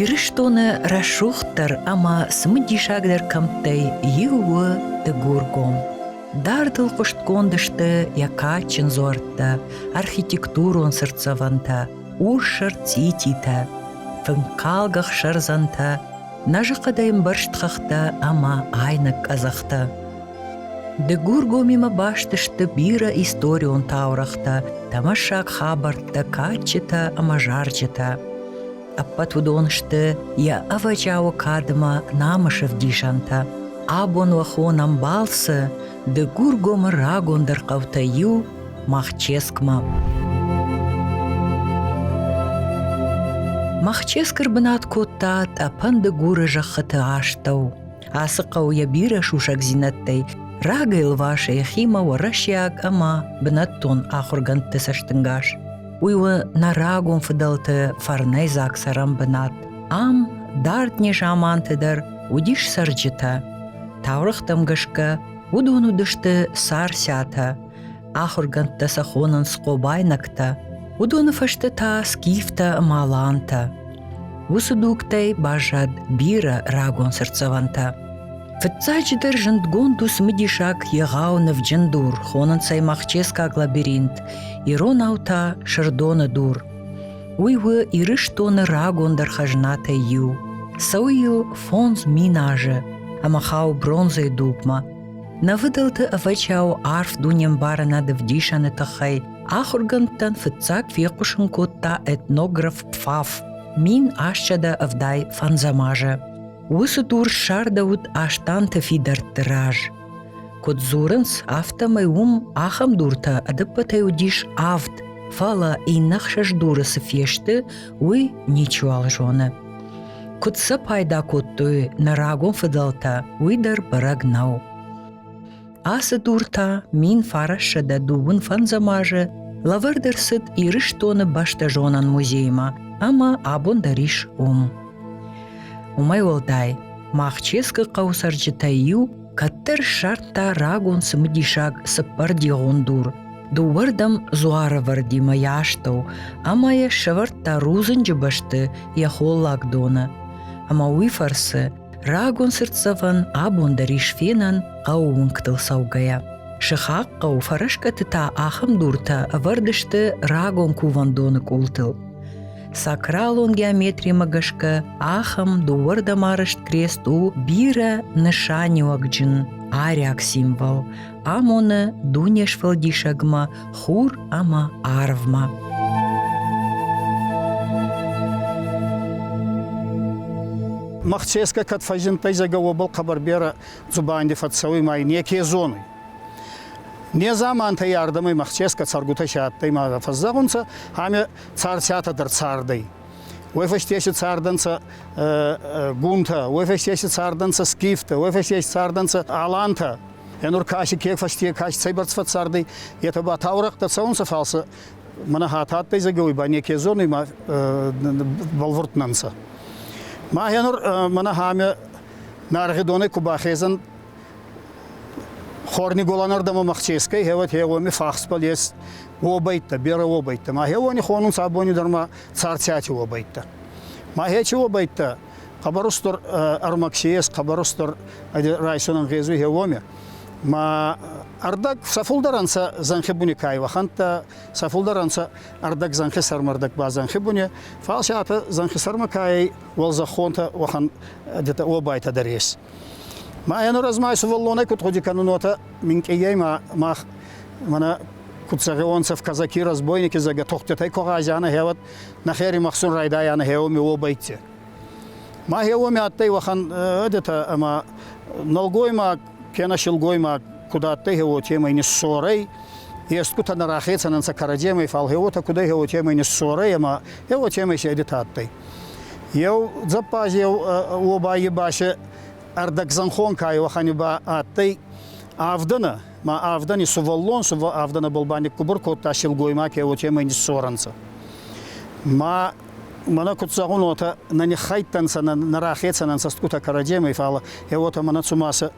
Ирыстоны рӕсугъддӕр ӕмӕ цымыдисагдӕр кӕмттӕй иу у Дыгургом. Дардыл хъуыстгонд сты йӕ кадджын дзуӕрттӕ, архитектурон сӕрдцӕвӕнтӕ, урс ӕрцъититӕ, фынкалгӕ хсӕрдзӕнтӕ, Нӕзы хъӕдӕй ӕмбӕрзт хӕхтӕ ӕмӕ айнӕг къӕдзӕхтӕ. Дыгургомимӕ баст сты бирӕ историон таурӕгътӕ, тӕмӕссаг хабӕрттӕ, кадджытӕ ӕмӕ зарджытӕ. Ӕппӕт уыдон сты йӕ ӕвӕджиауы кадмӕ намысы вдисӕнтӕ. Абон уӕ хонӕм балцы Дыгургомы рагондӕр хъӕутӕй иу Махческмӕ. Махческыр бынат кодта тъӕпӕн дыгуры зӕххыты астӕу. Ацы хъӕу йӕ бирӕ сусӕгдзинӕдтӕй рагӕй лвас йӕхимӕ уӕрӕсейаг ӕмӕ бынӕттон ахуыргӕндты цӕстынгас. Уый у нӕ рагон фыдӕлты фӕрнӕйдзаг цӕрӕн бынат. Ам дард незаманты дӕр уыдис цӕрджытӕ. Таурӕгътӕм гӕсгӕ Уыдон уыдысты сарсӕтӕ, ахуыргӕндтӕ сӕ хонынц хъобайнӕгтӕ, уыдоны фӕстӕ та скифтӕ ӕмӕ алантӕ. Уыцы дугтӕй баззад бирӕ рагон сӕрдцӕвӕнтӕ. Фыццаджыдӕр зындгонд у цымыдисаг егъау нывджын дур, хонынц ӕй махческаг лабиринт, иронау та сырдоны дур. Уый у Ирыстоны рагондӕр хӕзнатӕй иу. Цӕуы йыл фондз мин азы ӕмӕ хауы бронзӕйы дупмӕ. Нӕ фыдӕлты ӕвӕчау арф дунембарынад ӕвдисӕны тыххӕй ахуыргӕндтӕн фыццаг фехъусын кодта этнограф Пфаф мин ӕстсӕдӕ ӕвдай фӕндзӕм азы. Уыцы дур ссардӕуыд Астанты фидӕртты раз. Куыд дзурынц, афтӕмӕй уым ахӕм дуртӕ ӕдӕппӕтӕй уыдис авд, фӕлӕ иннӕ ӕхсӕз дуры цы фесты, уый ничиуал зоны. Куыд сӕ пайда кодтой нӕ рагон фыдӕлтӕ, уый дӕр бӕрӕг нӕу. Ацы дуртӕ мин фарӕссӕдӕ дыууын фӕндзӕм азы лӕвӕрд ӕрцыд Ирыстоны бӕстӕзонӕн музеймӕ ӕмӕ абон дӕр ис уым. Уымӕй уӕлдай, Махческы хъӕуы цӕрджытӕй иу кӕддӕр ссардта рагон цымыдисаг цыппӕрдигъон дур, дыууӕрдӕм дзуарывӕрдимӕ йӕ астӕу, ӕмӕ йӕ сӕвӕрдта рудзынджы бӕсты йӕ холлаг доны. Ӕмӕ уый фӕрцы рагон цыртдзӕвӕн абон дӕр ис фенӕн хъӕуы уынгтыл цӕугӕйӕ. Сыхаг хъӕу фӕрӕскъӕты та ахӕм дуртӕ ӕвӕрд сты рагон кувӕндоны къултыл. сакралон геометримӕ гӕсгӕ ахӕм дыууӕрдӕм арызт крест у бирӕ нысаниуӕгджын ариаг символ амоны дунесфӕлдисӕгмӕ хур ӕмӕ арвмӕ Махцеско кӕд фӕззиндтӕй зӕгӕ уобӕл хъӕбӕр берӕ дзубанди фӕццӕуй ма неке зонуй. Незамантӕй ардӕмӕй Махцеско цӕргутӕ се адтӕй ма фӕззӕгъунцӕ, ами царцатӕ дӕр цардӕй. Уой фӕстеси цардӕнцӕ гунтӕ, уой фӕстеси цардӕнцӕ скифтӕ, уой фӕстеси цардӕнцӕ алантӕ. Енур каси ке фӕсте каси цӕйбӕрц фӕццардӕй, етӕ ба таурӕхътӕ цӕунцӕ, фал сӕ мӕнӕ хатадтӕй зӕгӕуй ба неке зонуй ма бӕлвурднӕнцӕ. Ма енур мӕнӕ ҳамӕ наргъи донӕй ку бахезӕн Хорниголанардама махческай хеват хеуами фахспал ес уобӕйттӕ, берӕ уобӕйттӕ. Ма хеуани хонун сабони дӕр ма царцати уобӕйттӕ. Ма хечи уобӕйттӕ хъӕбӕрустур ӕрмӕгси ес, хъӕбӕрустур райсонӕн гъезуй хеуоми. Ма ӕрдӕг сӕ фулдӕр ӕнцӕ зӕнхи буни кайвахӕнттӕ, сӕ фулдӕр ӕнцӕ ӕрдӕг зӕнхи сӕрмӕрдӕг ба зӕнхи буни. Фал си атӕ зӕнхи сӕрмӕ кайӕй уӕлзӕххонтӕ уӕхӕн детӕ уобайтӕ дӕр ес. Ма ӕнуразмӕ сувӕллонӕй куд гъуди кӕнун, уотӕ минкъийӕй мах мӕнӕ куд цӕгиуонцӕ в казаки разбойники зӕгӕ тохтетӕй ко гъазианӕ хеуӕд нӕхери махсун райдайанӕ хеуоми уобӕйтти. Ма хеуоми адтӕй уӕхӕн ӕдетӕ ӕма нӕлгоймаг кенӕ силгоймаг куд адтӕй хеуотемӕй ниссорӕй, естгутӕ нӕ рахецӕн ӕнцӕ кӕрӕдземӕй, фал хеуотӕ кудӕй хеуотемӕй ниссорӕй ӕма хеуотемӕй си ӕдетӕ адтӕй. Еу дзӕппаз еу уобаййи басе ӕрдӕгзӕнхон ка уӕхӕни ба адтӕй авдӕнӕ, ма авдӕни сувӕллон авдӕнӕбӕл ба никкубур кодта силгоймаг ке уотемӕй ниссорӕнцӕ. Ма мӕнӕ куд зӕгъун, уотӕ нӕ ниххайдтӕнцӕ, нӕ рахецӕн ӕнцӕ стгутӕ кӕрӕдземӕй, фал е уотӕ мӕнӕ цума сӕ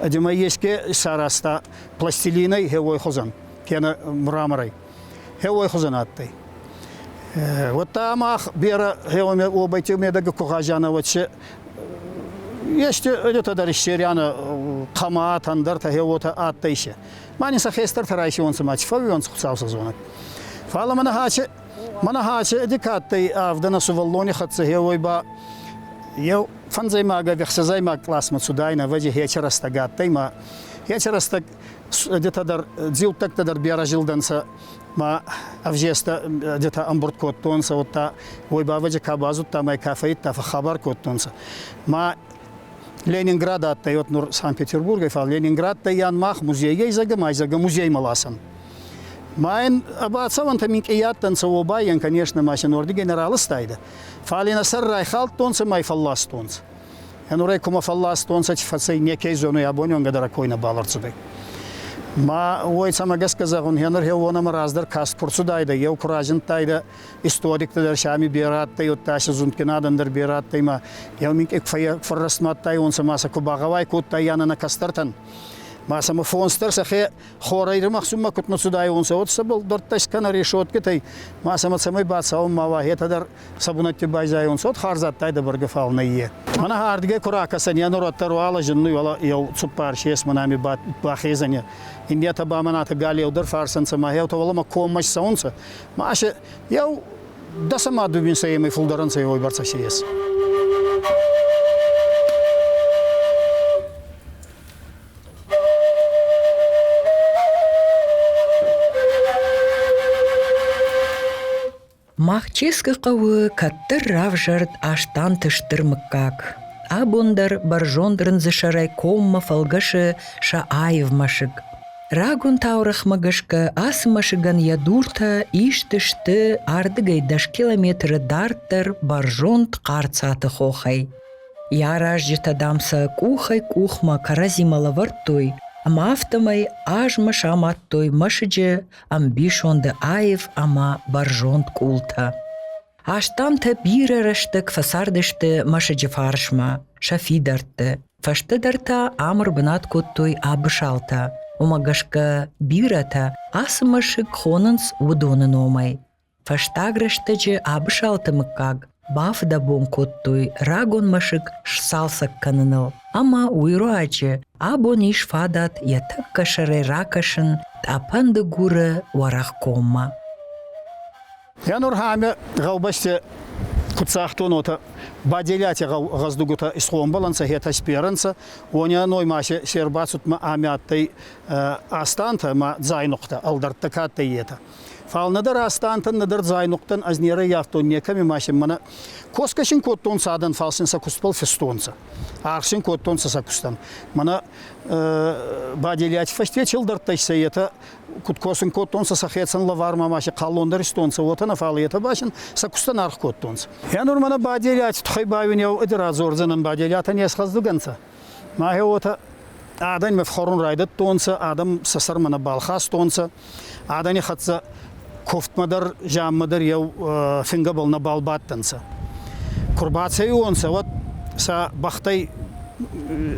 ӕдемӕй еске исаразта пластилинӕй хеуой хузӕн, кенӕ мраморӕй. Хеуой хузӕн адтӕй. Уӕдта мах берӕ хеуомӕ уобӕйти медӕги ку гъазианӕ уотсе, ести ӕдетӕ дӕр иссерианӕ хъамаат, ӕндӕртӕ хеуотӕ адтӕй се. Ма нин сӕ хестӕртӕ райсиуонцӕ ма чи фӕууиуонцӕ Хуцау цӕрзонӕг. Фал мӕнӕ хӕццӕ, мӕнӕ хӕццӕ ӕди ка адтӕй авдӕн ӕ сувӕллони хӕццӕ хеуой ба, еу фӕндзӕймагӕг ӕхсӕзӕймаг къласмӕ цудайнӕ, ӕвӕдзи хецӕ рӕстӕг адтӕй ма хецӕ рӕстӕг детӕ дӕр, дзилдтӕгтӕ дӕр берӕ зилдӕнцӕ ма ӕвзестӕ детӕ ӕмбурд кодтонцӕ, удта уой бабӕджи ка базудта ма ка фӕййидта, фӕхабар кодтонцӕ. Ма Ленинград адтӕй вот нур Санкт-Петербургӕй, фал Ленинградтӕййан мах музейгӕй зӕгӕ ма зӕгӕ музеймӕ ласӕн. Ма ин ӕбацӕуӕнтӕ минкъий адтӕнцӕ уобайӕн, конечно, ма син уордигӕй нӕ раластайдӕ. Фал ин ӕ сӕр райхалдтонцӕ ма й фӕлластонцӕ. Нурӕй кумӕ фӕлластонцӕ, фӕцӕй некей зонуй абониуонгӕ дӕр койнӕ бавӕрцудӕй. Ма уой цӕмӕ гӕсгӕ зӕгъун, гьенӕр хеуонӕмӕ раздӕр каст ку рцудайдӕ, еу ку разиндтайдӕ, историктӕ дӕр си ами берӕ адтӕй, уӕдта си зундгин адӕн дӕр берӕ адтӕй, ма еу минкъек фӕррӕстмадтайуонцӕ ма сӕ ку багъӕуай кодтай янӕ нӕ кӕстӕртӕн. Ма сӕмӕ фонс дӕр сӕхе Хорӕй римахсунмӕ кутмӕ цудайуонцӕ, уот сӕ булдӕрттӕ скӕнӕ решеткитӕй ма сӕмӕ цӕмӕй бацӕун ма уӕхетӕ дӕр сӕ бунӕтти байзайонцӕ, уот хӕрзадтайдӕ бӕргӕ фал нӕййе. Мӕнӕ ардгӕй ку ракӕсӕн, е нуроттӕр уӕлӕ зиннуй, уӕлӕ еу цуппар есмӕ нӕми бахезӕн, иннетӕ ба мӕнӕтӕ галеу дӕр фарсӕнцӕ ма еутӕ уӕлӕмӕ коммӕ цӕунцӕ, ма се еу дӕсӕмӕ дубинцӕемӕй фулдӕр ӕнцӕ уойбӕрцӕ си ес. Махческы хъӕуы кӕддӕр равзӕрд Астанты стыр мыггаг. Абон дӕр бӕрзонд рындзысӕрӕй коммӕ фӕлгӕсы сӕ аив мӕсыг. Рагон таурӕхмӕ гӕсгӕ ацы мӕсыгӕн йӕ дуртӕ исты сты ардыгӕй дӕс километры дарддӕр бӕрзонд хъарцаты хохӕй. Йӕ аразджытӕ, дам, сӕ къухӕй-къухмӕ кӕрӕдзимӕ лӕвӕрдтой ӕмӕ афтӕмӕй азмӕ самадтой мӕсыджы ӕмбисонды аив ӕмӕ бӕрзонд къултӕ. Астӕутӕ бирӕ рӕстӕг фӕцардысты мӕсыджы фарсмӕ сӕ фидӕртты. Фӕстӕдӕр та ӕмыр бынат кодтой абысалтӕ. Уымӕ гӕсгӕ бирӕтӕ ацы мӕсыг хонынц уыдоны номӕй. Фӕстаг рӕстӕджы Абысалты мыггаг бафыдӕбон кодтой рагон мӕсыг сцалцӕг кӕныныл, ӕмӕ уый руаджы абон ис фадат йӕ тӕккӕ сӕрӕй ракӕсын Тъӕпӕндыгуры Уӕрӕхгоммӕ. Йа нур ӕме гъӕубӕсте куццагтонотӕ баделиати гъӕздугутӕ исхъомбӕлӕнцӕ, хетӕсперӕнцӕ, уонӕ ноймасе се рбацудмӕ ами адтӕй астантӕ ӕма дзайнухътӕ, ӕлдӕрттӕ ка адтӕй, етӕ. Фал нӕдӕр астантӕн, нӕдӕр зайнухътӕн ӕз нерӕййафтон некӕми машин. Мӕнӕ косгӕ син кодтонцӕ адӕн, фал син сӕ кустбӕл фестонцӕ. Аргъ кодтонцӕ сӕ кустӕн. Мӕнӕ ба делиати фӕсте чилдӕрттӕй сӕ етӕ куд косун кодтонцӕ сӕхецӕн лӕвармӕ маши хъаллон дӕр истонцӕ, уотӕ нӕ, фал етӕ ба син сӕ кустӕн аргъ кодтонцӕ. Е нур мӕнӕ ба делиати туххӕй бауинеу ӕд радзордзӕнӕн, ба делиатӕн есхъӕздуг ӕнцӕ. Мӕхе уотӕ адӕнмӕ фхуӕрун райдӕдтонцӕ, адӕм сӕ сӕрмӕ нӕбал хастонцӕ, адӕни хӕццӕ куфтмӕ дӕр, зианмӕ дӕр еу фингӕбӕл нӕбал бадтӕнцӕ. Ку рбацӕйуонцӕ, уӕд сӕ бӕхтӕй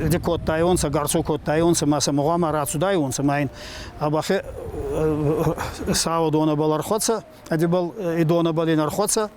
еди кодтайонцӕ, гарцо кодтайонцӕ ма сӕ гъуама рацудайонцӕ ма ин а бӕхе сауӕ донӕбӕл ӕрхуӕцӕ, ӕдебӕл и донӕбӕл ин ӕрхуӕцӕ.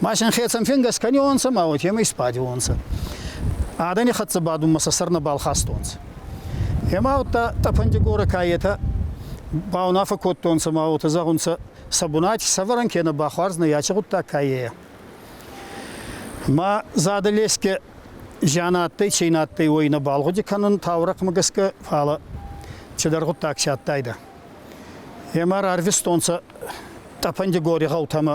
Машин хецӕн фенгӕс кӕнионцӕ ма уотемӕй сбадиуонцӕ. Адӕни хӕццӕ бадунмӕ сӕ сӕр нӕбал хастонцӕ. Ема удта тъӕпӕндигорӕ каетӕ баунафӕ кодтонцӕ ма уотӕ зӕгъунцӕ, сӕ бунати сӕвӕрӕн кенӕ бахуарзнӕ яче гъуддаг каййӕ. Ма задӕ леске зиан адтӕй, чи ин адтӕй, уой нӕбал гъуди кӕнун таурӕхъмӕ гӕсгӕ, фал чидӕр гъуддаг чи адтайдӕ. Ема рарвистонцӕ тъӕпӕндигори гъӕутӕмӕ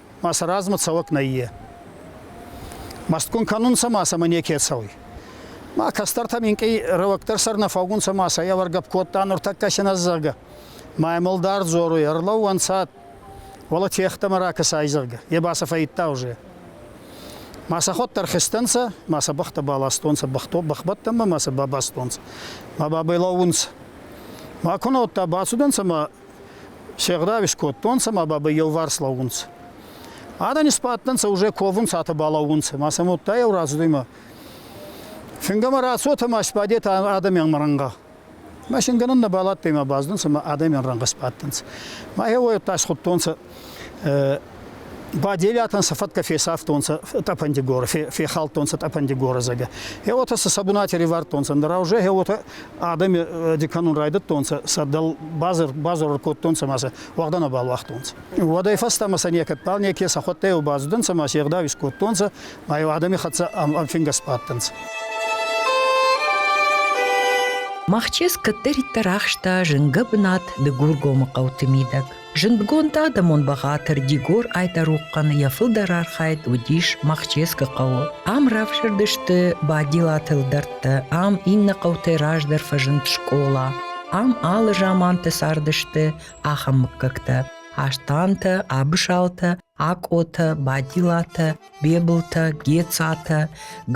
ма сӕ размӕ цӕуӕг нӕййе. Мӕстгун кӕнунцӕ ма сӕмӕ неке цӕуй. Ма кӕстӕртӕ минкъий рӕуӕгдӕр сӕр нӕ фӕугунцӕ ма сӕ евӕргӕп кодта нуртӕккӕ синӕ зӕгъгӕ. Ма емалдар дзоруй, ӕрлӕууӕнцӕ, уӕлӕ техтӕмӕ ракӕсай, зӕгъгӕ. Е ба сӕ фӕййидта уже. Ма сӕхуӕддӕр хизтӕнцӕ, ма сӕ бӕхтӕ баластонцӕ, бӕхто бӕхбӕттӕмӕ ма сӕ бабастонцӕ. Ма бабӕй лӕуунцӕ. Ма кунӕуттӕ бацудӕнцӕ ма Се гъдау искодтонцӕ ма бабӕй еуварс лӕуунцӕ. Адӕн исбадтӕнцӕ, уже ковунцӕ, атӕ балӕуунцӕ, ма сӕм уодта еу рацудӕй Фингӕмӕ рацотӕ ма сбадетӕ адӕмиан рӕнгъӕ. Ма шингӕнӕн нӕбал адтӕй ма баздӕнцӕ ма адӕмиан рӕнгъӕ сбадтӕнцӕ. Ма еуӕй удта схудтонцӕ Баделиатӕн сӕ фӕткӕ фесафтонцӕ Тъӕпӕндигоры, фехалдтонцӕ Тъӕпӕндигоры зӕгӕ. Е уотӕ сӕ сӕ бунати ривардтонцӕ, нура уже е уотӕ адӕми диканун райдӕдтонцӕ, сӕ дӕл базор кодтонцӕ ма сӕ уӕгъдӕ нӕбал уагътонцӕ. Уӕдӕй фӕстӕмӕ сӕ некӕдбал неке сӕхуӕдтӕй еу базудӕнцӕ ма се гъдау искодтонцӕ, ма еу адӕми хӕццӕ ӕнфингӕ сбадтӕнцӕ. Махчъеск кӕддӕриддӕр ахста зынгӕ бынат Дыгургомы хъӕуты мидӕг. Зындгонд адӕмон бӕгъатыр Дигор Айтарухъхъаны йӕ фылдӕр архайд уыдис Махческы хъӕуы. Ам равзӕрдысты Бадилаты ӕлдӕрттӕ, ам иннӕ хъӕутӕй раздӕр фӕзынд скъола, ам алы заманты цардысты ахӕм мыггӕгтӕ: Астантӕ, Абысалтӕ, Акъотӕ, Бадилатӕ. Бебылтӕ, Гецатӕ,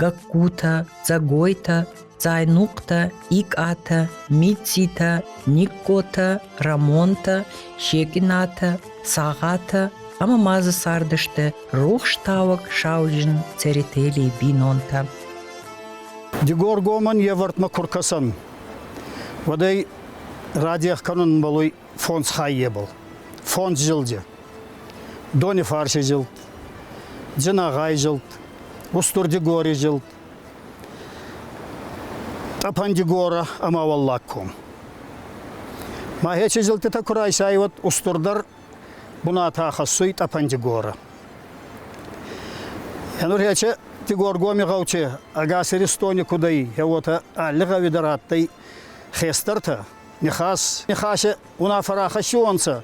Гагкутӕ, Дзӕгойтӕ, Дзайнухътӕ, Икъатӕ, Мицитӕ, Никъкъотӕ, Рӕмонтӕ, Секъинатӕ, Цагъатӕ ӕмӕ ма дзы цардысты рухстауӕг сауджын Церетелийы бинонтӕ. Дигоргомӕн йе вӕртмӕ куы ркӕсӕн, уӕд ӕй радех кӕнунмӕл уй фондз хаййе был. Фондз зилди. Донифарси зилд, Дзинагъай зилд, Устурдигори зилд, Тъапандигора ӕма Уӕллагком. Ма хечи зилтитӕ ку райсайуат устурдар бунатӕ хӕссуй Тъапандигора. Енур хече Тигоргоми гъӕучи ӕгас Иристони кудӕй, еуотӕ алли гъӕуи дӕр адтӕй хестӕртӕ, Нихас, Нихасе унафа рахӕссиуонцӕ,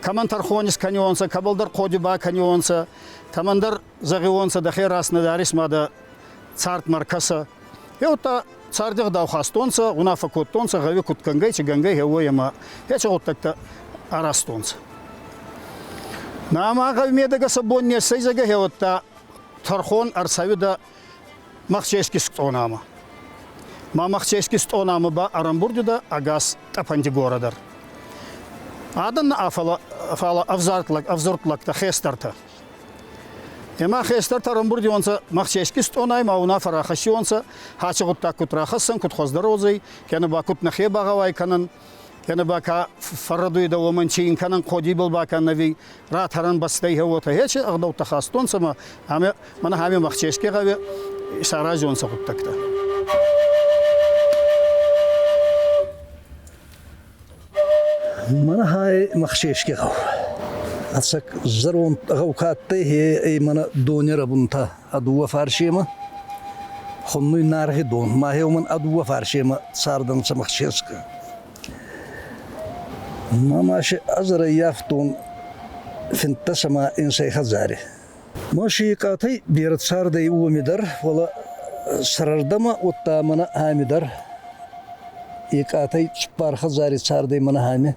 кӕмӕн тӕрхонис кӕниуонцӕ, кӕбӕлдӕр ходи ба кӕниуонцӕ, кӕмӕндӕр зӕгъиуонцӕ, дӕхе раз нӕ дарис ма дӕ цардмӕ ркӕсӕ. Е удта царди гъдау хастонцӕ, унаффӕ кодтонцӕ гъӕуи куд кӕнгӕй, ци гӕнгӕй хеуой ӕма еци гъуддӕгтӕ аразтонцӕ. Нӕма гъӕуи медӕгӕ сӕ бон не ссӕйдзӕгӕ хеуӕттӕ тӕрхон ӕрцӕуидӕ Махчески стъонама. Ма Махчески стъонама ба ӕрӕмбурдида ӕгас тъӕпӕнти городӕр. Адӕн фала ӕвзуртлӕгтӕ хестӕртӕ. Ема хестӕртӕ рамбурдионцӕ Махчески стъонай ма унафӕ рахӕссионцӕ, хачи гъуддаг куд рахӕссӕн, куд хуӕздӕр одзӕй, кенӕ ба куд нӕхе багъӕуай кӕнӕн, Ene ба ка фӕррӕдуйдӕ, уомӕн ци ин кӕнӕн, ходибӕл ба ка нӕви, ратӕрӕн бӕстӕй уотӕ. Ечи ӕгъдӕуттӕ хастонцӕ ма ӕма мӕнӕ ами махческе гъӕуи саразонцӕ гъуддӕгтӕ. Мана хай махческе гъӕу. Ацак зӕронд гъӕу кадтӕй, е мана донера бунта. ӕ дууӕ фарсемӕ хуннуй наргъи дон. Мӕхе уомӕн ӕ дууӕ фарсемӕ цардӕнцӕ Махческӕ. Ма маши ӕзарӕййафтон финддӕсӕмӕ инсӕй хӕдзари. Ма шиикъатӕй берӕ цардӕй уоми дӕр, фалӕ сӕрӕрдӕмӕ, уӕдта мӕнӕ ами дӕр. Икъатӕй цуппар хӕдзари цардӕй мӕнӕ ами.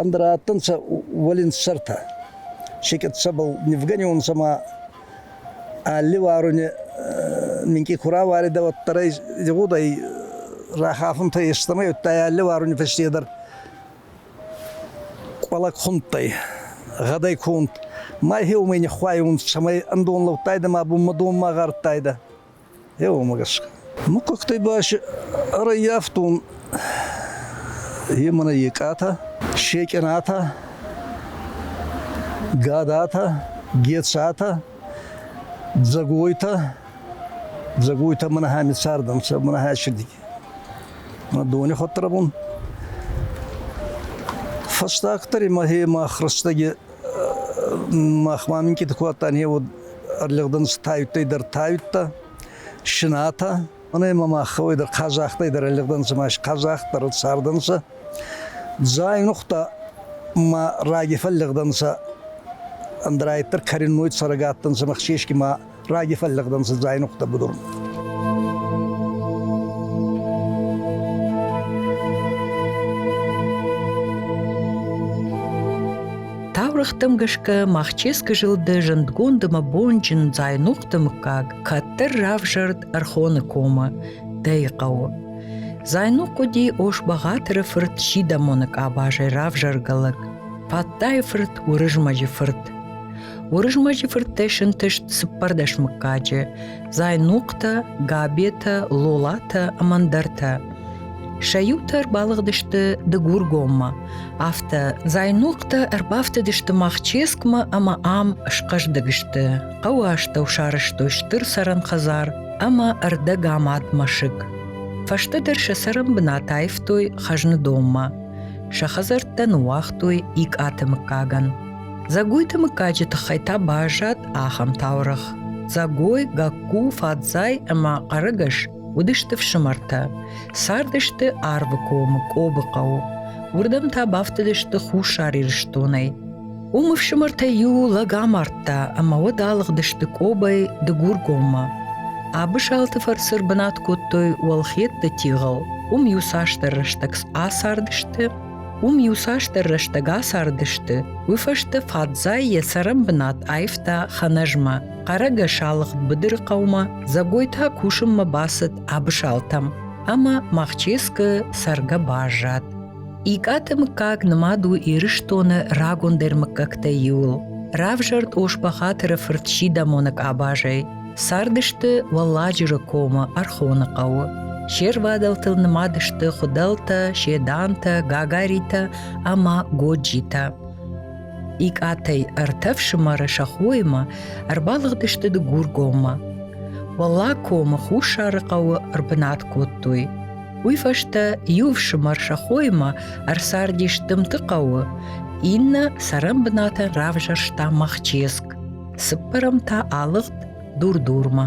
Ӕндӕра адтӕнцӕ уолинсӕртӕ. Секъет сӕбӕл нивгӕниуонцӕ ма алли уаруни минкъий ку рауаидӕ, уӕддӕр ӕй зӕгъудӕй рахафунтӕй естӕмӕй, удта алли уаруни фӕстедӕр къуӕлӕг хундтӕй, гъӕдӕй ку унт. Ма хеумӕй ниххуайунцӕ, цӕмӕй ӕндон лӕудтайдӕ ма бунмӕ донмӕ гъардтайдӕ. Еу ӕмӕ гӕсгӕ. Мыхъхъӕгтӕй басы ӕрӕййӕфтон е мӕнӕ екъатӕ, секъенатӕ, гадатӕ, гецатӕ, дзӕгойтӕ. Дзӕгойтӕ мӕнӕ ами цардӕнцӕ, мӕнӕ ӕсиди. Мӕ дони хуӕдтӕрӕбун. Фӕстагдӕр имӕ хемӕ хрустаги махмӕ минкъийти куы адтан, е уӕд ӕрлӕгдӕн тайуттӕй дӕр тайуттӕ, шинатӕ. Мӕнӕ ма мах хауй дӕр хъазахтӕй дӕр ӕрлӕгдӕнцӕ, ма хъазахт дӕр цардӕнцӕ. Дзайнухътӕ ма раги фӕллӕгдӕнцӕ, ӕндра айддӕр кӕренной цӕрӕг адтӕнцӕ, ма хсесги ма Раги фӕллӕгдӕн цыдзай нухтӕ будур. Таурыхтым гӕсгӕ Махческы зылды зындгондымӕ бонджын Дзайнухты мыггаг кӕддӕр равзӕрд Ӕрхоны комы, Дӕйы хъӕуы. Зайнух уыди Ошбӕгъатыры фырт Сидамоны къабазӕй равзӕргӕ лӕг, Паттайы фырт Уырызмӕджы фырт. Уырызмӕджы фырттӕй сынтыст цыппӕрдӕс мыггаджы – Зайнухътӕ, Габетӕ, Лолатӕ ӕмӕ ӕндӕртӕ. Сӕ иутӕ ӕрбалыгъдысты Дыгургоммӕ, афтӕ Зайнухътӕ ӕрбафтыдысты Махческмӕ ӕмӕ ам схъӕздыг сты. Хъӕуы астӕу сарӕзтой стыр цӕрӕн хӕдзар ӕмӕ ӕрдӕгамад мӕсыг. Фӕстӕдӕр сӕ цӕрӕн бынат аивтой хӕзны донмӕ. Сӕ хӕдзӕрттӕ ныууагътой икъаты мыггагӕн. Дзӕгойты мыггаджы тыххӕй та баззад ахӕм таурӕгъ. Дзӕгой, Гакку, Фадзай ӕмӕ Хъӕрыгӕс уыдысты фсымӕртӕ. Цардысты Арвы комы, Къобы хъӕуы. Уырдӕм та бафтыдысты Хуссар Ирыстонӕй. Уым ӕфсымӕртӕй иу лӕг амардта ӕмӕ уӕд алыгъдысты Къобӕй Дыгургоммӕ. Абысалты фӕрцы бынат кодтой уӕлхӕдты тигъыл. Уым иуцасдӕр рӕстӕг ацардысты, Уым иуцасдӕр рӕстӕг ацардысты, уый фӕстӕ Фадзай йӕ цӕрӕнбынат аивта Ханӕзмӕ, хъарӕгӕс алыгъд быдыры хъӕумӕ, Дзӕгой та кусынмӕ бацыд Абысалтӕм, ӕмӕ Махческы цӕргӕ баззад. Икъаты мыггаг нымад у Ирыстоны рагондӕр мыггӕгтӕй иуыл. Равзӕрд Оспахатыры фырт Сидамоны къабазӕй. Цардысты Уӕлладжыры комы Ӕрхоны хъӕуы. Се рвадӕлтыл нымад сты Хуыдӕлтӕ, Седантӕ, Гагаритӕ ӕмӕ Годжитӕ. Икъатӕй ӕртӕ фсымӕры сӕ хоимӕ ӕрбалыгъдысты Дыгургоммӕ. Уӕллаг комы Хуссары хъӕуы ӕрбынат кодтой. Уый фӕстӕ иу фсымӕр сӕ хоимӕ ӕрцардис Дымты хъӕуы, иннӕ цӕрӕнбынатӕн равзӕрста Махческ. Цыппӕрӕм та алыгъд дур-дурмӕ.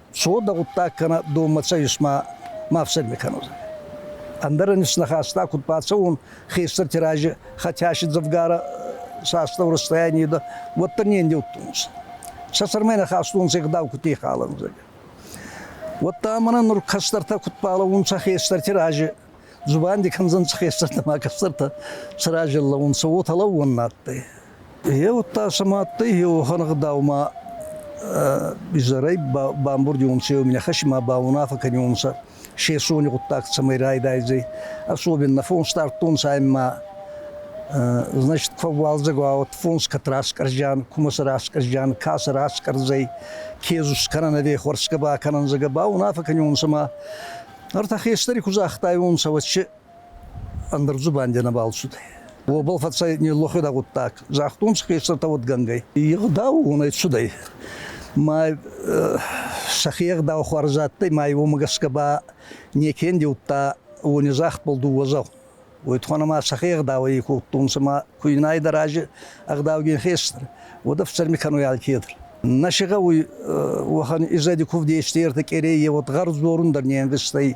Шо да гъуддаг кӕна донмӕ цӕйис ма ма фсӕгмӕ кӕнуд. Ӕндӕрӕн снахаста куд бацӕун хестӕрти рази хотящи дзӕвгарӕ састау расстояние да уӕддӕр не ндеуттунс. Сӕ сӕрмӕ нахастонци гъдау кути халӕнзӕг. Уӕдта мӕнӕ нур кӕстӕртӕ куд балӕуунцӕ хестӕрти рази, зубанди кӕндзӕнцӕ хестӕртӕ ма кӕстӕртӕ сӕ рази лӕуунцӕ, уотӕ лӕууӕн адтӕй. Е удта сӕмӕ еуӕхӕн гъдаумӕ изӕрӕй бамбурдиуонцӕ еуминӕхӕс имӕ ба унаффӕ кӕниуонцӕ сесони гъуддаг цӕмӕй райдайдзӕй. Особенно фонс дардтонцӕ ӕма значит фӕууалдзӕгуа уӕд фонс кӕд раскъӕрзиан, кумӕ сӕ раскъӕрзиан, ка сӕ раскъӕрдзӕй, ке зус кӕнӕн ӕви хуӕрсгӕ ба кӕнӕнцӕ, ба унаффӕ кӕниуонцӕ ӕма ӕртӕ хестӕри ку загътайуонцӕ, уӕд си Ӕндӕр дзубанди нӕбал цудӕй. Уобӕл фӕцӕй ниллӕхуӕдӕг гъуддаг. Загътон хестӕртӕ уодгӕнгӕй. Егъдау унӕй цудӕй. Ма сӕхе егъдау хуарз адтӕй, ма уомӕ гӕсгӕ ба неке ндеудта уони загъдбӕл дууӕ дзау. Уой туххӕн ӕма сӕхе егъдауӕй кодтонцӕ, ма куйнайдӕр ази ӕгъдаугин хестӕр, уӕд ӕфсӕрми кӕнуй алкедӕр. Нӕ си гъӕуй уӕхӕн изӕди кувд ести ертӕ къерей, е уод гъӕр дзорун дӕр не ӕнвӕстӕй.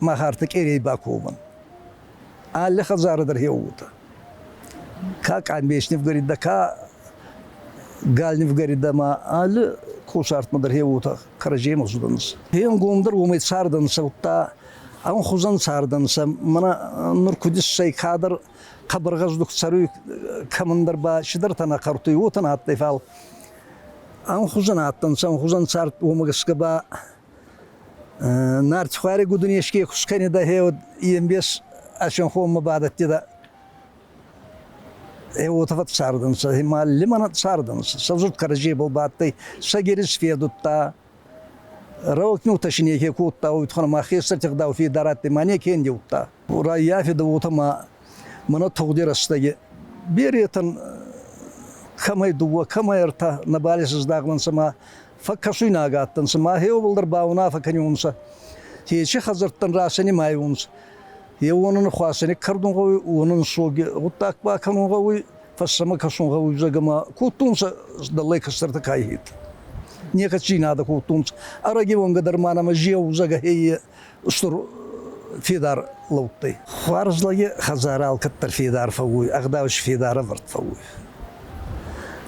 Махарты Къерей баковын. Алы хӕдзары дӕр хеууыты. Ка къамбечнев горит, да ка Гальнев горит, да ма алы кусартмӕ дӕр хеууты кӕрӕдзийӕн хуыздӕнс. Хенгомдӕр уымӕй цардӕн сӕутта, ам хузан цардӕн сӕ мана нур кудиссӕй кадр хъабаргъаздух царуй кӕмӕндӕр ба шидӕртӕна хъӕртуй уотӕн адтӕй фал ам хузан адтӕнцӕ, ам хузан цард уомӕ гӕсгӕ ба Нартихуари гудунеске хускайни дӕхе уод ембес асенхонмӕ бадӕдтӕ да е уотӕ фӕццардӕнцӕ, ма лимӕнӕ цардӕнцӕ. Сӕвзурд кӕрӕдзей был бадтӕй, сӕ герис федудта, рӕвтнутӕ си неке кодта, уотхӕн ма хестӕрти гъдау федар адтӕй, ма неке ндеудта. Раййафедӕ уотӕ ма мӕнӕ тугъди рӕстӕги беретӕн кӕмӕй дууӕ, кӕмӕй ӕртӕ нӕбал исӕздахлӕнцӕ ма фӕккӕсуйнаг адтӕнцӕ, ма хеуобӕлдӕр ба унаффӕ кӕниуонцӕ, ечи хӕдзӕрттӕн расӕни ма айунцӕ. Е уонӕн хуасӕни кӕрдун гъӕуй, уонӕн соги гъуддаг ба кӕнун гъӕуй, фӕссӕмӕ кӕсун гъӕуй зӕгӕмӕ. Кодтонцӕ дӕллӕй кӕстӕртӕ кайхед. Некӕд си надӕ кодтонцӕ. Ӕрӕги уонгӕ дӕр ма нӕмӕ зеу зӕгӕ хеййе. устур федар лӕудтӕй. Хуарзлаги хӕдзарӕ алкӕддӕр федар фӕууй, ӕгъдау си федарӕвӕрд фӕууй.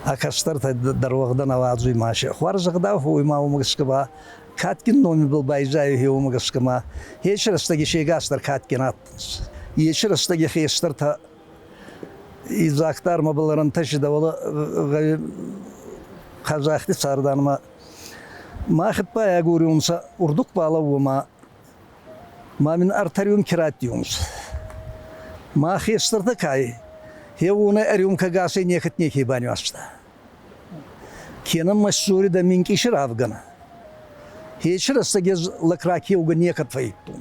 А кӕстӕртӕ дӕр уӕгъдӕ науадзуй маше. Хуарзӕгъдау фӕууй ма уомӕ гӕсгӕ ба кадгин номибӕл байзайуй уомӕ гӕсгӕ ма еци рӕстӕги сегасдӕр кадгин адтӕнцӕ. Еци рӕстӕги хестӕртӕ идзагдӕр мӕбӕл ӕрӕнтӕсидӕ, уӕлӕ хъазахти царданмӕ Мӕ хеппӕй агорунцӕ урдук балӕууӕ ма ма мин ӕртӕриун ке раттиунцӕ. Ма хестӕртӕ ка ӕй, хеуонӕй ӕрюмкӕгасӕй некӕд неке банюаста. Кенӕ мӕ ссоридӕ минкъиси равгӕнӕ. Хечи рӕстӕг ез лӕг ракеугӕ некӕд фӕййидтон.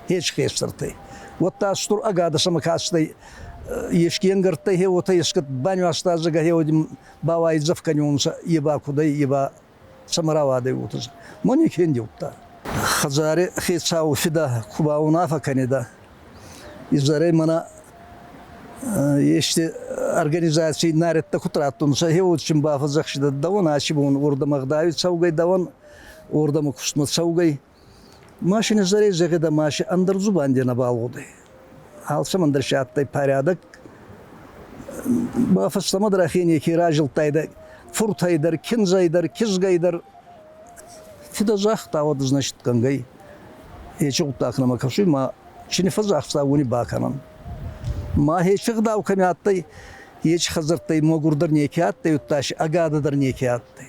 Хечи хестӕртӕй. Уӕдта стур ӕгадӕсӕмӕ кастӕй, ески ӕнгӕрдтӕй хеуотӕ ескӕд банюаста зӕгӕ хеуоди Бауайдзӕф кӕнунцӕ е ба кудӕй, е ба цӕмӕ рауадӕй, уотӕ. Ма не фендеудта. Хӕдзари хецау фидӕ ку баунаффӕ кӕнидӕ, изӕрӕй мӕнӕ ести организаций нарӕдтӕ куд раттунцӕ, еуочин бафӕдзӕхсидӕ дӕуӕн аци бон уордӕмӕ гъдауи цӕугӕй, дӕуӕн уордӕмӕ кустмӕ цӕугӕй, Машин изӕрӕй зӕгъӕд ӕма си ӕндӕр дзубанди нӕбал гъудӕй. Алцӕмӕн дӕр си адтӕй порядок. Ба фӕстӕмӕ дӕр ӕхе неке разилдтайдӕ фуртӕй дӕр, киндзӕй дӕр, кизгӕй дӕр. Фидӕ загъта, уӕд, значитгӕнгӕй, ечи гъуддаг нӕмӕ кӕсуй, ма чи не фӕззӕхса, уони бакӕнӕн. Ма ӕхе гъдау кӕми адтӕй, ечи хӕдзӕрттӕй мӕгурдӕр неке адтӕй, удта си ӕгадӕ дӕр неке адтӕй.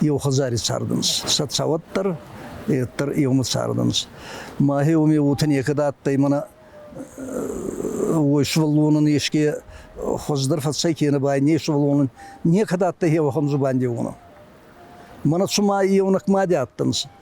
Еу хӕдзари цардӕнцӕ, сӕ цӕуӕт дӕр, дӕр еумӕ цардӕнцӕ. Мӕхе уоми уотӕ некӕд адтӕй, мӕнӕ уой сувӕллонӕн еске хуӕздӕр фӕцӕй кенӕ ба не сувӕллонӕн некӕд адтӕй еуӕхӕн дзубанди уонӕн. Мӕнӕ цума еунӕг мади адтӕнцӕ.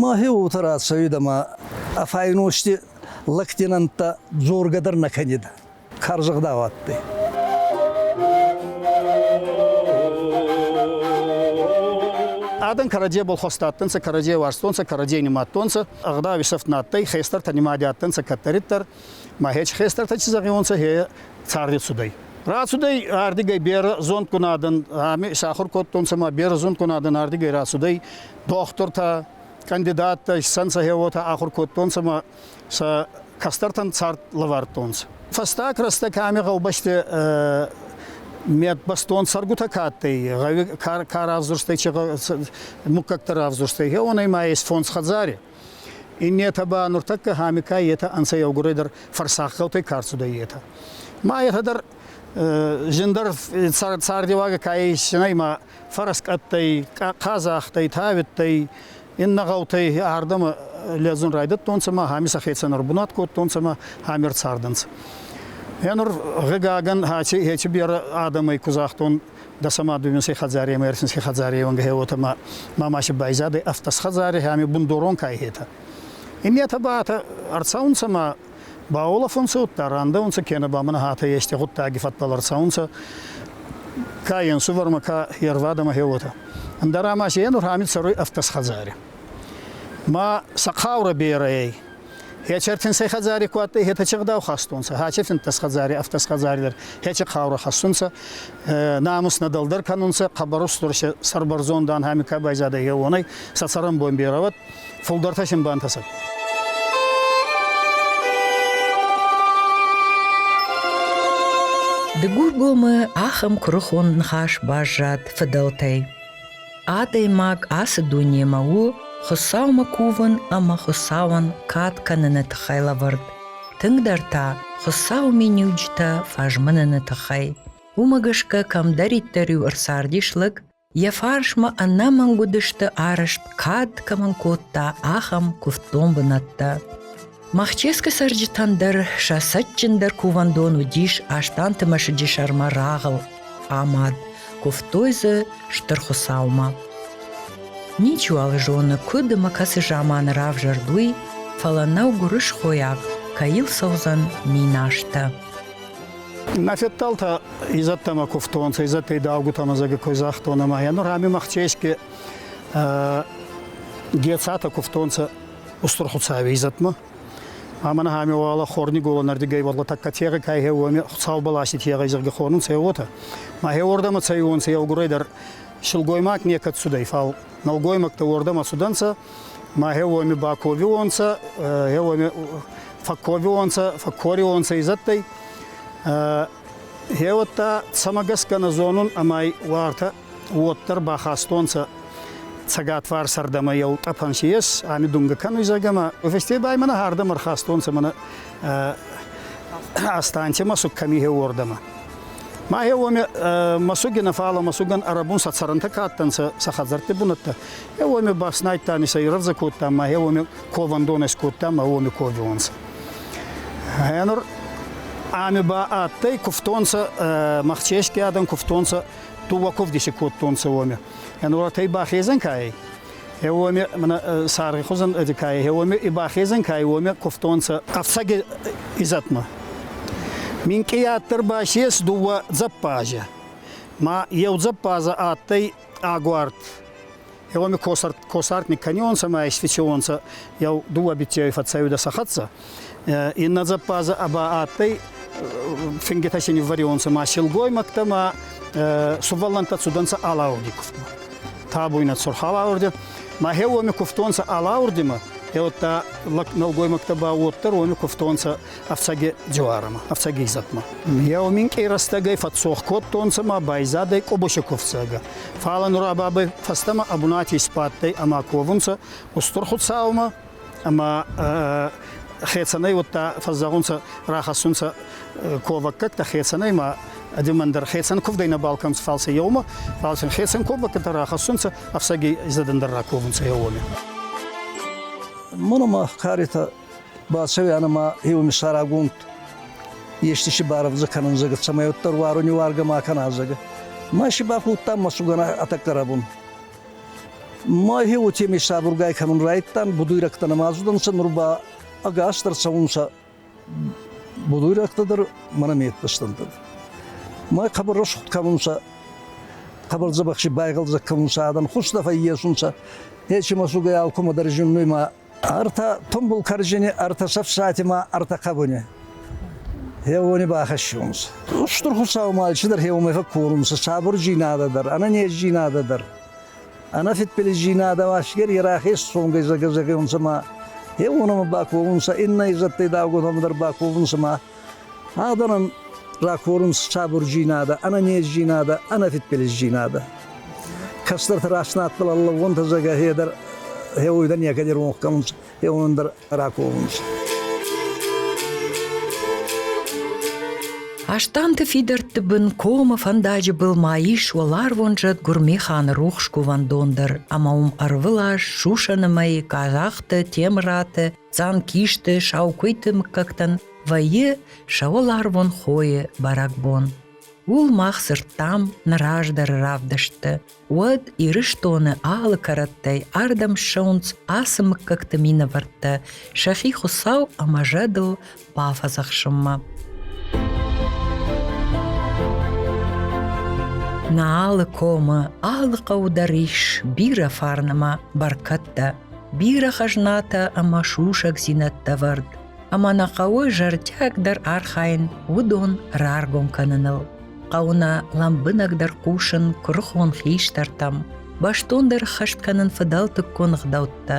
Мӕхе уотӕ рацӕуид ӕма ӕ файности лӕгти нӕмттӕ дзоргӕ дӕр нӕ кӕнид, карзӕгъдау адтӕй. Адӕн кӕрӕдзей болхост адтӕнцӕ, кӕрӕдзей уарзтонцӕ, кӕрӕдзей нимадтонцӕ. Ӕгъдауи сӕфт нӕ адтӕй, хестӕртӕ нимади адтӕнцӕ кӕддӕриддӕр. Махеч хестӕртӕ ци зӕгъиуонцӕ, е царди цудӕй. Рацудӕй ардигӕй берӕ зондгун адӕн, ами сахур кодтонцӕ ма берӕ зондгун адӕн ардигӕй рацудӕй, дохтуртӕ, кандидаттӕ исӕнцӕ хе уотӕ ахур кодтонцӕ ма сӕ кӕстӕртӕн цард лӕвардтонцӕ. Фӕстаг рӕстӕг ами гъӕубӕсти медбастон сӕргутӕ ка адтӕй, гъӕуи ка равзурстӕй, чи муггӕгтӕ равзурстӕй, хеуонӕй ма ес фондз хӕдзари. Иннетӕ ба нуртӕккӕ Хамикай етӕ ӕнцӕ еугурӕй дӕр фӕрсахъаутӕй ка рцудӕй, етӕ. Ма етӕ дӕр зиндӕр цардеуагӕ ка иссинӕй ма фӕрск адтӕй, къазахтӕй, тавидтӕй, иннӕ гъӕутӕй ардӕмӕ лӕдзун райдӕдтонцӕ ма ами сӕхецӕн ӕрбунат кодтонцӕ ма ами ӕрцардӕнцӕ. Е нур, гъигагӕн, аци хеци берӕ адӕмӕй ку загътон, Да сама дунеси хӕдзари ӕма ерсинси хӕдзари еуӕнгӕ уотӕ ма мамаси байзадӕй автос хӕдзари, ами бундорон кайхетӕ. Имиатӕ баатӕ ӕрцӕунцӕ ма баолафунцӕ удта, рандӕунцӕ кенӕ ба мӕнӕ хатӕ ести гъуддаги фӕдбӕл ӕрцӕунцӕ ка енсувӕрмӕ, ка ервадӕмӕ хеуотӕ. Ӕндӕра ма си енур ами цӕруй автосхӕдзари. Ма сӕ хъаурӕ берӕ ӕй. Ечертинсӕй хӕдзари ку адтӕй, хетӕче гъдау хастонцӕ, хачертинтӕс хӕдзари, автӕс хӕдзари дӕр хече хъаурӕ хӕссунцӕ, намус нӕ дӕлдӕр кӕнунцӕ, хъӕбӕр устур се сӕрбӕрзонд ан, ами ка байзадӕй еуонӕй, сӕ цӕрӕнбон берӕ уӕд, фулдӕртӕ син бантӕсӕд. Дыгургомы ахӕм куырыхон ныхас баззад фыдӕлтӕй. Адӕймаг ацы дунемӕ у Хуыцаумӕ кувын ӕмӕ Хуыцауӕн кад кӕныны тыххӕй лӕвӕрд. Тынгдӕр та Хуыцауы миниуджытӕ фӕзмыныны тыххӕй. Уымӕ гӕсгӕ кӕмдӕриддӕр-иу ӕрцардис лӕг, йӕ фарсмӕ ӕнӕмӕнг уыдысты арӕзт кад кӕмӕн кодта, ахӕм куывддон бынӕттӕ. Махческы цӕрджытӕн дӕр сӕ цӕджджындӕр кувӕндон уыдис Астанты мӕсыджы сӕрмӕ рагъыл амад, куывтой дзы Стыр Хуыцаумӕ. Ничиуал зоны, куыд ӕмӕ кӕцы заманы равзӕрд уый, фӕлӕ нӕу гуырысхойаг, кӕй йыл цӕудзӕн минастӕ. Мӕ федтӕлтӕ изӕдтӕмӕ кувтонцӕ, изӕдтӕй даугутӕмӕ зӕгӕ кой загътон, ӕма е нур ами Махчески Гецатӕ кувтонцӕ устур Хуцауи изӕтмӕ. Ӕма нӕхӕми уӕлӕ хорниголӕн ӕрдигӕй уӕлӕ тӕккӕ тегъи кай хеуоми Хуцау баласи тегъай зӕрги хонун цӕй уотӕ. Ма хеуордӕмӕ цӕй уонцӕ еугурӕй дӕр силгоймаг некӕд цудӕй, фал нӕлгоймӕгтӕ уордӕмӕ цудӕнцӕ, ма хеуоми баковиуонцӕ, хеуоми фӕкковиуонцӕ, фӕккориуонцӕ изӕдтӕй. Хеуӕттӕ цӕмӕ гӕсгӕ нӕ зонун ӕма уартӕ уоддӕр ба хастонцӕ цӕгатварсӕрдӕмӕ еу тъӕпӕн си ес, ами дунгӕ кӕнуй зӕгӕмӕ. Уфестей ба имӕ нӕхӕрдӕмӕ ӕрхастонцӕ мӕнӕ Астантемӕ суг кӕми хеуордӕмӕ. Ма е уоми мӕсуги нӕ, фал мӕсугӕн ӕрӕбун сӕ цӕрӕнтӕ ка адтӕнцӕ, сӕ хӕдзӕртти бунӕттӕ. Е уоми бафснайдта ами сӕ ирӕвдзӕ кодта, ма е уоми ковӕндон ескодта, ма уоми ковиуонцӕ. Е нур ами ба адтӕй, кувтонцӕ, Махчески адӕн кувтонцӕ Туваков деси кодтонцӕ уоми. Ӕнуратӕй бахезӕн кайй. Е уоми саргъи хузӕн кайй, е уоми и бахезӕн кайй, уоми кувтонцӕ ӕфцӕги изӕтмӕ. Минкъияддӕр ба сес дууӕ дзӕппазӕ. Ма еу дзӕппаза адтӕй агуард. Еуеми косартник кӕнионцӕ ма исфичеуонцӕ еу дууӕ битейои фӕцӕуидӕ сӕ хӕццӕ. Иннӕ дзӕппазӕ ба адтӕй фингитӕ си ниввӕрионцӕ ма силгоймӕгтӕ ма сувӕллӕнттӕ цудӕнцӕ алаурди кувдмӕ. Табуйнӕ цурх алаурди ма хе уоми кувтонцӕ алаурдимӕ, е удта нӕлгоймӕгтӕ ба уоддӕр уоми кувтонцӕ ӕфцӕги дзуарӕмӕ, ӕфцӕги изӕтмӕ. Еу минкъий рӕстӕгӕй фӕццох кодтонцӕ ма байзадӕй Къубуси кувцӕгӕ. Фал нура бабӕй фӕстӕмӕ ӕ бунати сбадтӕй ӕма ковунцӕ Устур Хуцаумӕ ӕма хецӕнӕй удта фӕззӕгъунцӕ, рахӕссунцӕ ковӕггӕгтӕ хецӕнӕй ма ӕдемӕн дӕр хецӕн кувдӕй нӕбал кӕнцӕ, фал сӕ еумӕ, фал син хецӕн ковӕггӕтӕ рахӕссунцӕ, ӕфцӕги изӕдӕн дӕр раковунцӕ еуони. Муну ма Харитӕ Балсевиана ма еумисарагонд ести си барӕвдзӕ кӕнун зӕгӕ, цӕмӕй уӕддӕр уаруни уаргӕ ма кӕна зӕгӕ. Ма си бафудтам мӕсугӕн атаккарабун. Ма хе уотеми сабургай кӕнун райдтан, будуйрӕгтӕ намазудӕнцӕ, нур ба ӕгасдӕр цӕунцӕ будуйрӕгтӕ дӕр мӕнӕ меттӕстӕнтӕ. Май хъабар расхуд кӕнунцӕ, хъабар дзӕбӕхси байгълдзӕг кӕнунцӕ, адӕн хустӕ фӕййесунцӕ, ечи мӕсугӕй алкумӕ дӕр зиннуй ма ӕртӕ тумбул коржини ӕртӕ сӕфсатимӕ ӕртӕ хъабуни. Еуони бахӕссунс. Устур Хуцаумӕ цидӕр хеумӕ курунцӕ сабурдзийнадӕ дӕр, ӕнӕнездзийнадӕ дӕр. Ӕнӕ фидбилиздзийнадӕ асгер ерахес цонгӕй загазагӕунцӕ ма, еуонӕмӕ баковунцӕ, иннӕ изӕдтӕй давгонтӕмӕ дӕр баковунцӕ ма. Адӕмӕн ракорунц сабурдзийнадӕ, ӕнӕнездзийнадӕ, ӕнӕфидбилиздзийнадӕ. Кӕстӕртӕ раст надтӕл аллавонтӕ зӕгӕ хедер хеуйдӕ некӕди ронх кӕнунц, хеуон дӕр раковунц. Астанты фидӕртты бын комы фӕндаджы был ма ис уӕларвон зӕд Гуырмеханы рухс кувӕндон дӕр ӕмӕ уым ӕрвылаз сусӕны мӕй Казахты, Темыраты Цъамкисты, саукуыйты мыггӕгтӕн вӕййы сӕ уӕларвон хойы бӕрӕгбон. Уыл мах дзырдтам нӕ раздӕры равдыстты. Уӕд Ирыстоны алы кӕрӕттӕй ардӕм ссӕуынц ацы мыггӕгты минӕвӕрттӕ, сӕхи Хуыцау ӕмӕ зӕдыл бафӕдзӕхсынмӕ. Нӕ комы алы хъӕу дӕр ис бирӕ фарнымӕ бӕркӕдтӕ, бирӕ хӕзнатӕ ӕмӕ сусӕгдзинӕдтӕ вӕрд, ӕмӕ нӕ хъӕуы зӕрдиагдӕр архайын уыдон раргом кӕныныл. Хъӕуы нӕ лӕмбынӕгдӕр хъусын куырыхон хистӕртӕм, бӕстондӕр хӕст кӕнын фыдӕлтыккон ӕгъдӕуттӕ,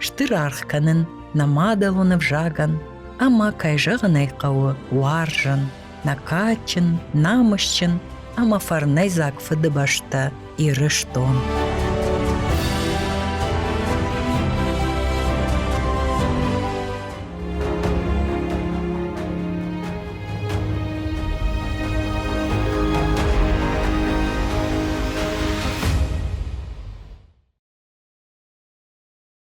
стыр аргъ кӕнын нӕ мадӕлон ӕвзагӕн ӕмӕ, кӕй зӕгъын ӕй хъӕуы, уарзын, нӕ кадджын, намысджын ӕмӕ фӕрнӕйдзаг фыдыбӕстӕ Ирыстон.